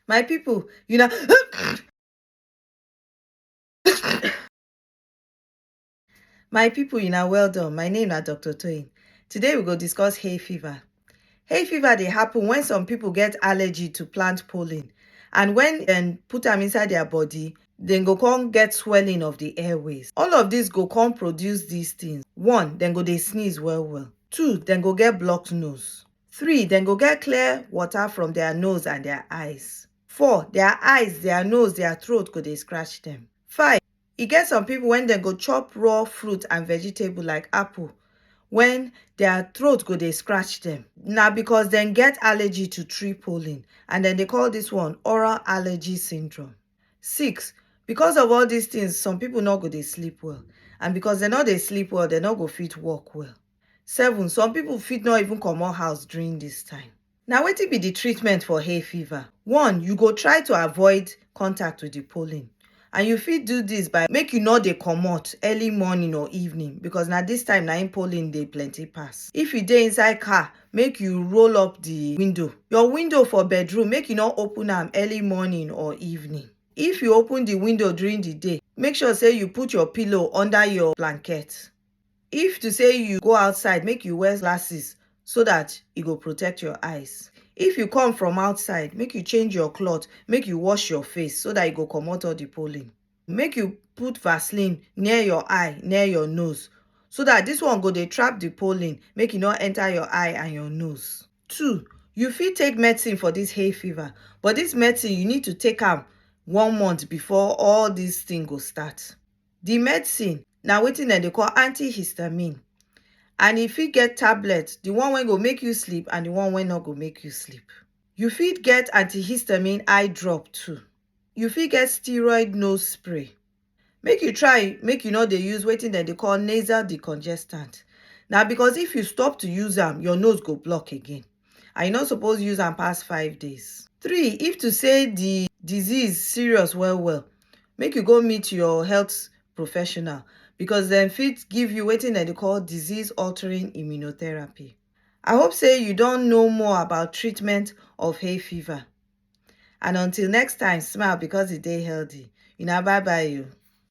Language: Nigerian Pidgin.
my people you na my people you na well done my name na dr toyin today we go discuss hay fever hay fever dey happen when some people get allergy to plant pollen and when dem put am inside their body dem go come get swelling of the airways all of this go come produce these things one dem go dey sneeze well well two dem go get blocked nose Three, dem go get clear water from their nose and their eyes. Four, their eyes, their nose, their throat go dey scratch them. Five, e get some people when dem go chop raw fruit and vegetable like apple, when their throat go dey scratch them. Na because dem get allergy to tree pollen and dem dey call this one oral allergy syndrome. Six, because of all these things, some people no go dey sleep well and because dem no dey sleep well, dem no go fit work well. 7 some pipo fit no even comot house during dis time. Na wetin be di treatment for hay fever? One, you go try to avoid contact with di pollen and you fit do dis by make you no dey comot early morning or evening because na dis time na im pollen dey plenty pass. If you dey inside car, make you roll up di window. Your window for bedroom, make you no open am early morning or evening. If you open di window during di day, make sure sey you put your pillow under your blanket. If to say you go outside make you wear glasses so that e go protect your eyes. If you come from outside make you change your cloth make you wash your face so that e go comot all the pollen. Make you put vaseline near your eye near your nose so that this one go dey trap the pollen make e no enter your eye and your nose. Two, you fit take medicine for this hay fever but this medicine you need to take am one month before all this thing go start. Di medicine na wetin dem dey call antihistamine and e fit get tablet, di one wey go make you sleep and di one wey no go make you sleep. You fit get antihistamine eye drop too. You fit get steroid nose spray. Make you try make you no dey use wetin dem dey call nasal decongestant. Na because if you stop to use am, your nose go block again. and you no suppose use am pass five days. Three, if to say the disease serious well well, make you go meet your health professional because dem fit give you wetin dem dey call disease altering immunotherapy. I hope say you don know more about treatment of hay fever. And until next time, smile because e dey healthy. Una bye bye o.